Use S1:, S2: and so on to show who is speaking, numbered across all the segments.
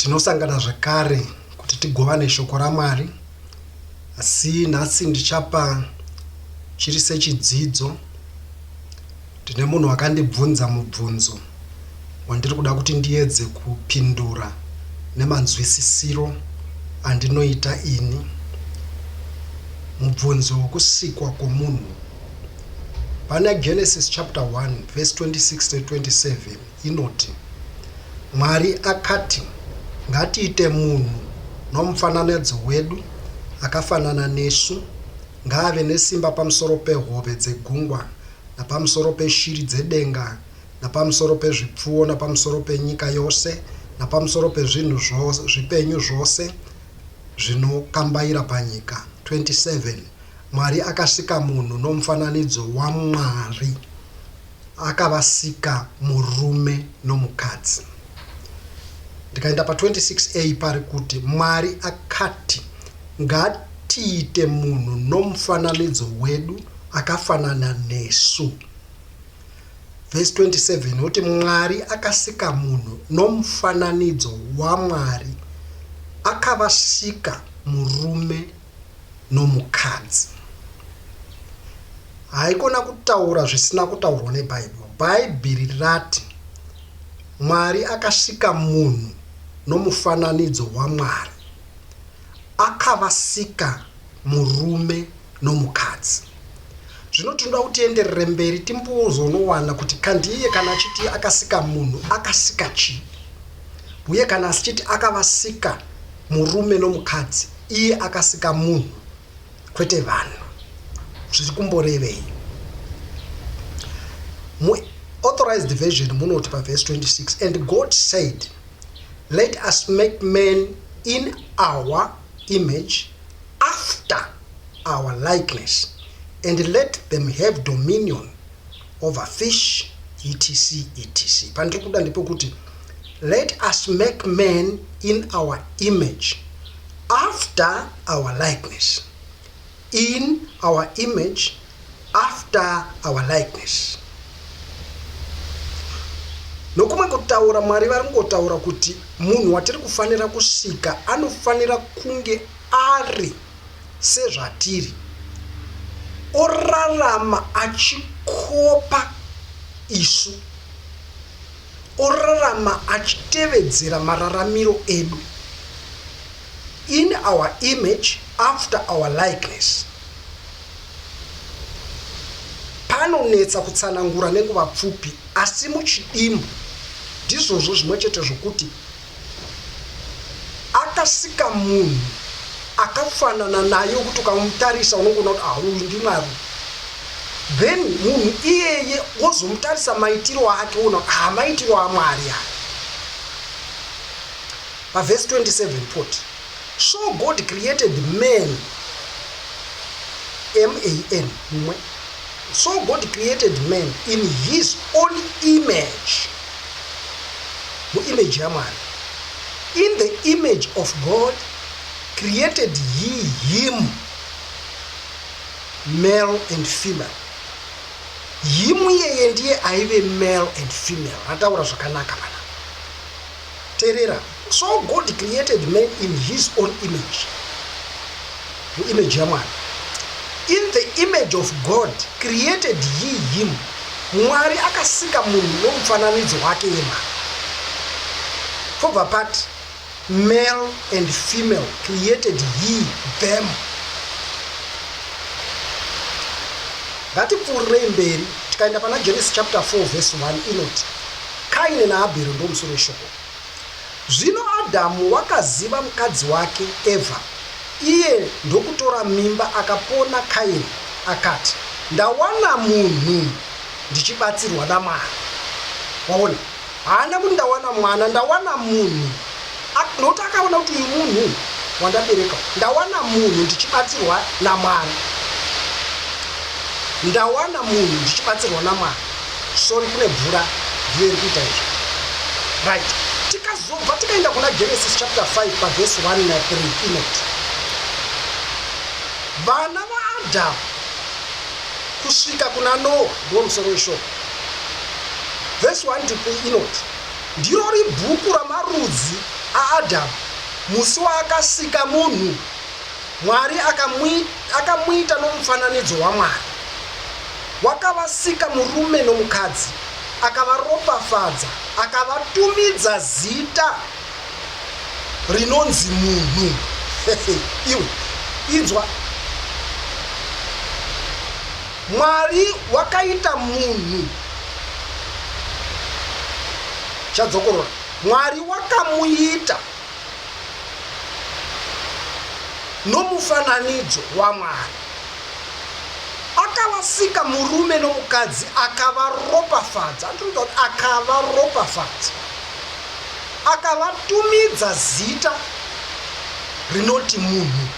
S1: Tinosangana zvakare kuti tigovane Shoko raMwari, asi nhasi ndichapa chiri sechidzidzo. Ndine munhu wakandibvunza mubvunzo wandiri kuda kuti ndiedze kupindura nemanzwisisiro andinoita ini. Mubvunzo wokusikwa kwomunhu. Pana Genesis chapter 1 verse 26 to 27 inoti, Mwari akati, Ngatiite munhu nomufananidzo wedu, akafanana nesu. Ngaave nesimba pamusoro pehove dzegungwa napamusoro peshiri dzedenga napamusoro pezvipfuwo napamusoro penyika yose napamusoro pezvinhu zvipenyu zvose zvinokambaira panyika. 27 Mwari akasika munhu nomufananidzo waMwari, Akavasika murume nomukadzi. Ndikaenda pa 26 a pari kuti Mwari akati ngatiite munhu nomufananidzo wedu akafanana nesu. Vhesi 27 yoti Mwari akasika munhu nomufananidzo waMwari akavasika murume nomukadzi. Haikona kutaura zvisina kutaurwa neBhaibheri. Bhaibheri rati Mwari akasika munhu nomufananidzo waMwari. Akavasika murume nomukadzi. Zvino tinoda kuti tienderere mberi timbozonowana kuti kandiye kana achiti akasika munhu akasika chii. Huye kana asichiti akavasika murume nomukadzi iye akasika munhu kwete vanhu zviri kumborevei? Mu authorized version munoti pavhesi 26 and God said let us make man in our image after our likeness and let them have dominion overfish etc etc pandiri kuda ndepekuti let us make man in our image after our likeness in our image after our likeness nokumwe kutaura mwari vari kungotaura kuti munhu watiri kufanira kusika anofanira kunge ari sezvatiri, orarama achikopa isu, orarama achitevedzera mararamiro edu, in our image after our likeness. Panonetsa kutsanangura nenguva pfupi asi muchidimbu ndizvozvo zvimwe chete zvokuti Akasika munhu akafanana naye wekuti ukamutarisa unongoona kuti ah uyu ndiMwari. Then munhu iyeye wozomutarisa maitiro ake woona kuti ah maitiro aMwari aya. Pavhesi 27 poti so God created man man mumwe so God created man in his own image muimage yaMwari, in the image of God created he him, male and female. Him iyeye ndiye aive male and female, ataura zvakanaka pana. Terera. So God created man in his own image, muimage yaMwari. In the image of God created he him, Mwari akasika munhu nomufananidzo wake yemhaka. Pobva pati male and female created he them. Ngatipfuurirei mberi tikaenda pana Genesis chapter 4 verse 1 inoti Kaini naAbheri ndomusoro weshoko. Zvino Adhamu wakaziva mukadzi wake Evha, iye ndokutora mimba akapona Kaini, akati, Ndawana munhu ndichibatsirwa naMwari. Waona? Haana kuti ndawana mwana, ndawana munhu. Nokuti akaona kuti uyu munhu wandabereka, ndawana munhu ndichibatsirwa naMwari. Ndawana munhu ndichibatsirwa naMwari. Sorry kune mvura ndiyo iri kuita izvo. Right. Tikazobva tikaenda kuna Genesis chapter 5 paverse 1 na 3 inoti vana vaAdhamu kusvika kuna Noa ndiwo musoro weshoko. Verse 1 to 3 inoti ndiro ribhuku ramarudzi aAdhamu musi waakasika munhu Mwari akamuita nomufananidzo waMwari. Wakavasika murume nomukadzi, akavaropafadza, akavatumidza zita rinonzi munhu. Iwe inzwa, Mwari wakaita munhu chadzokorora. Mwari wakamuita nomufananidzo waMwari. akavasika murume nomukadzi akavaropafadza andinoita kuti akavaropafadza akavatumidza zita rinoti munhu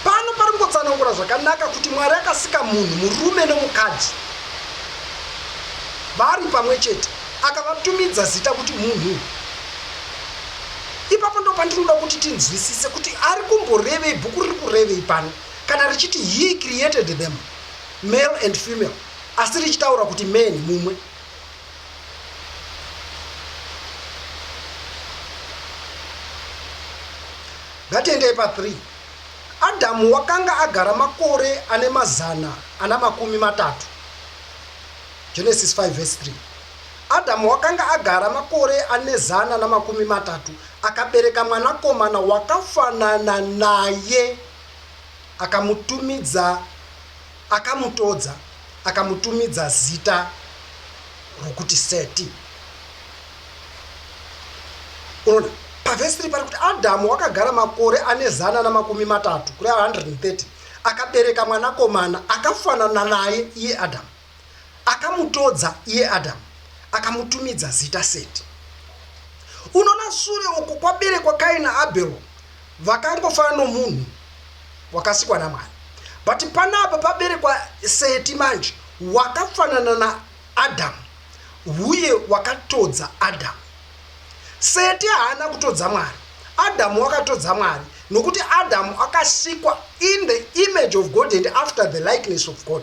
S1: pano pari kungotsanangura zvakanaka kuti mwari akasika munhu murume nomukadzi vari pamwe chete akavatumidza zita kuti munhu Ipapo ndopandinoda kuti tinzwisise kuti ari kumborevei, bhuku riri kurevei pano kana richiti he created them male and female asi richitaura kuti man mumwe. Ngatiendei pa 3. Adamu wakanga agara makore ane mazana ana makumi matatu. Genesis 5 verse 3. Adhamu wakanga agara makore ane zana namakumi matatu, akabereka mwanakomana wakafanana naye, akamutumidza, akamutodza, akamutumidza zita rokuti Seti. Unoona, pavhesi iri pari kuti Adhamu wakagara makore ane zana namakumi matatu, kureva 130, akabereka mwanakomana akafanana naye, iye Adhamu. Akamutodza iye Adhamu, akamutumidza zita Seti. Unoona, sure uko kwaberekwa Kaini naAbhero, vakangofanana nomunhu wakasikwa naMwari. But panapa paberekwa Seti manje, wakafanana naAdhamu, uye wakatodza Adhamu. Seti haana kutodza Mwari, Adhamu wakatodza Mwari, nokuti Adhamu akasikwa in the image of God and after the likeness of God.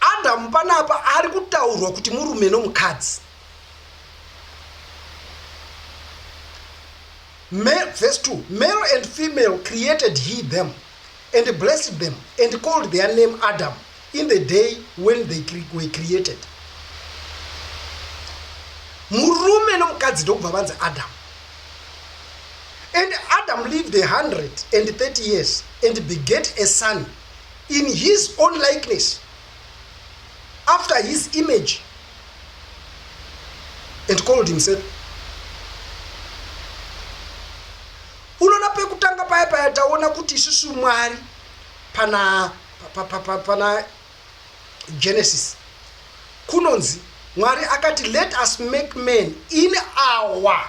S1: Adam panapa ari kutaurwa kuti murume nomukadzi. Me, verse 2 Male and female created he them and blessed them and called their name Adam in the day when they cre were created. Murume nomukadzi ndokubva vanzi Adam. And Adam lived a hundred and thirty years and beget a son in his own likeness after his image and called himself unoona pekutanga paya paya taona kuti isusu mwari pana pa, pa, pa, pana genesis kunonzi mwari akati let us make man in our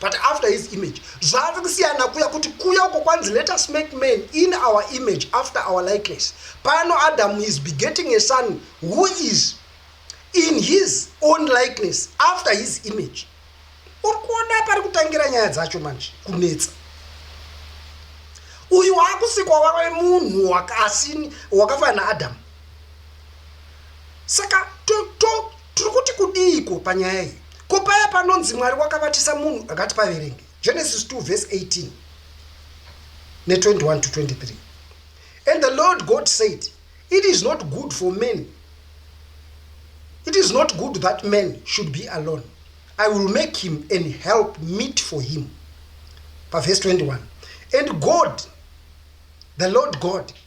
S1: but after his image zvaave kusiyana kuya kuti kuya uko kwanzi let us make man in our image after our likeness pano adam is begetting a son who is in his own likeness after his image uri kuona pari kutangira nyaya dzacho manje kunetsa uyu waakusikwa wave munhu wakasini wakafanana naadamu saka tiri kuti kudiiko panyaya iyi ko paya panonzi mwari wakavatisa munhu akati paverenge genesis 2 vese 18 ne21 to 23 and the lord god said it is not good for man it is not good that man should be alone i will make him and help meet for him pavese 21 and god the lord god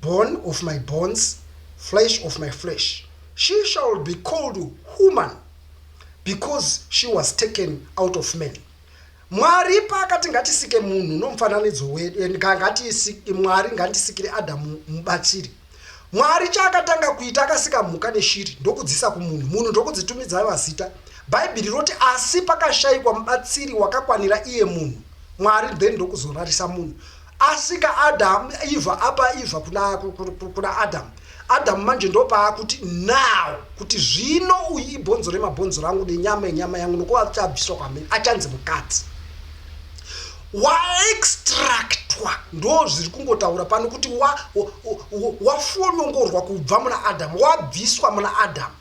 S1: bone of my bones, flesh of my flesh, she shall be called human because she was taken out of man. Mwari paakati ngatisike munhu nomufananidzo wedu and ngatiisike Mwari ngandisikire Adamu mubatiri. Mwari chaakatanga kuita akasika mhuka neshiri ndokudzisa kumunhu. Munhu ndokudzitumidza mazita. Bhaibheri roti asi pakashayikwa mubatsiri wakakwanira iye munhu. Mwari then ndokuzorarisa munhu. Asika Adam Eva apa Eva kuna kuna Adam. Adam manje ndopaakuti now kuti zvino uyu ibhonzo remabhonzo rangu nenyama yenyama yangu nokuva achabviswa kwamene achanzi mukadzi waextractwa ndo zviri kungotaura pano kuti wafonongorwa wa, wa, wa kubva muna adamu wabviswa muna adamu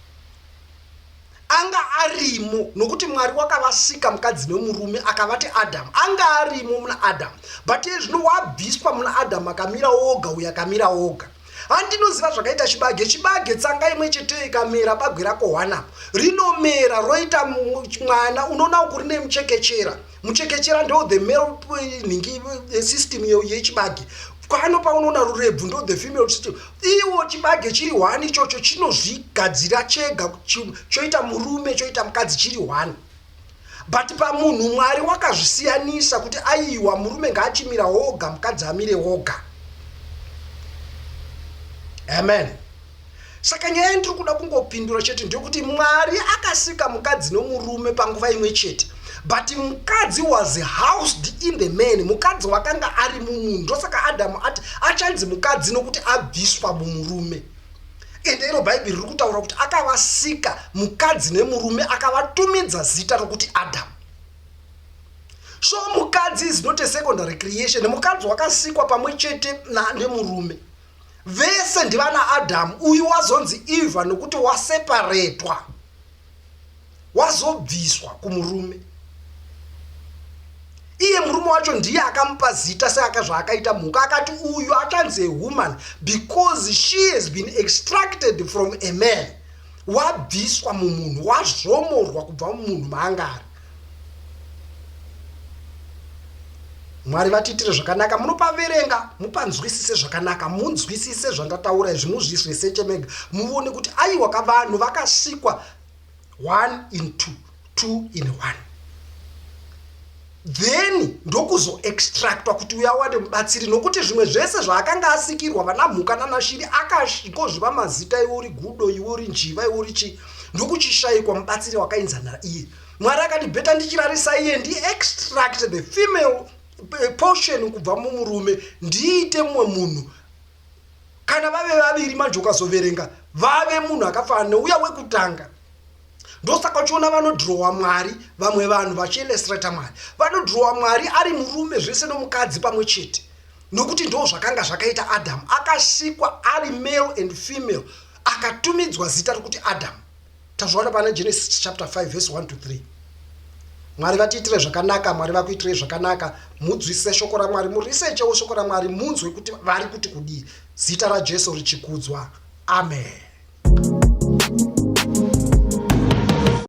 S1: Anga arimo nokuti Mwari wakavasika mukadzi nemurume akavati Adam anga arimo muna Adam but iye zvino wabviswa muna Adam akamira oga uyo akamira oga handinoziva zvakaita chibage chibage tsanga imwe cheteyo ikamera bagwe rakohwanapo rinomera roita mwana unoona kuri nemuchekechera muchekechera ndo the male eh, nhingi eh, system iyo yechibage kwano paunoona rurebvu ndo the female system iwo chibage chiri hwani ichocho chinozvigadzira chega choita murume choita mukadzi chiri hwani but pamunhu mwari wakazvisiyanisa kuti aiwa murume ngaachimira woga mukadzi amire woga amen Saka nyaya yandiri kuda kungopindura chete ndeyekuti Mwari akasika mukadzi nomurume panguva imwe chete but mukadzi was housed in the man, mukadzi wakanga ari mumunhu. Ndosaka Adamu ati achanzi mukadzi nokuti abviswa mumurume. Ende iro Bhaibheri riri kutaura kuti akavasika mukadzi nemurume akavatumidza zita rokuti Adamu. So mukadzi is not a secondary creation, mukadzi wakasikwa pamwe chete nemurume. vese ndivana adamu uyu wazonzi eva nokuti waseparetwa wazobviswa kumurume iye murume wacho ndiye akamupa zita seaka zvaakaita mhuka akati uyu achanzi awoman because she has been extracted from a man wabviswa mumunhu wazvomorwa kubva mumunhu maangari Mwari vatiitire zvakanaka munopaverenga mupanzwisise zvakanaka munzwisise zvandataura izvi muzvisreseche mega muvone kuti aiwa ka vanhu vakasikwa one in two two in one then ndokuzoextractwa kuti uya wade mubatsiri nokuti zvimwe zvese zvaakanga asikirwa vana mhuka nanashiri akashikozviva mazita iwe uri gudo iwe uri njiva iwe uri chii ndokuchishaikwa mubatsiri wakainzanira iye mwari akandibheta ndichirarisa iye ndiextract the female eh, portion kubva mumurume ndiite mumwe munhu kana vave vaviri manje ukazoverenga vave munhu akafanana neuya wekutanga ndosaka uchiona vanodhirowa mwari vamwe vanhu vachielestrata mwari vanodhirowa mwari ari murume zvese nomukadzi pamwe chete nokuti ndo zvakanga zvakaita adamu akasikwa ari male and female Akatumidzwa zita rokuti Adhamu. Tazviona pana Genesis chapter 5 verse 1 to 3. Mwari vatiitire zvakanaka, Mwari vakuitirei zvakanaka, mudzwisise shoko raMwari, murisechewo shoko raMwari, munzwe kuti vari kuti kudii. Zita raJesu richikudzwa. Amen.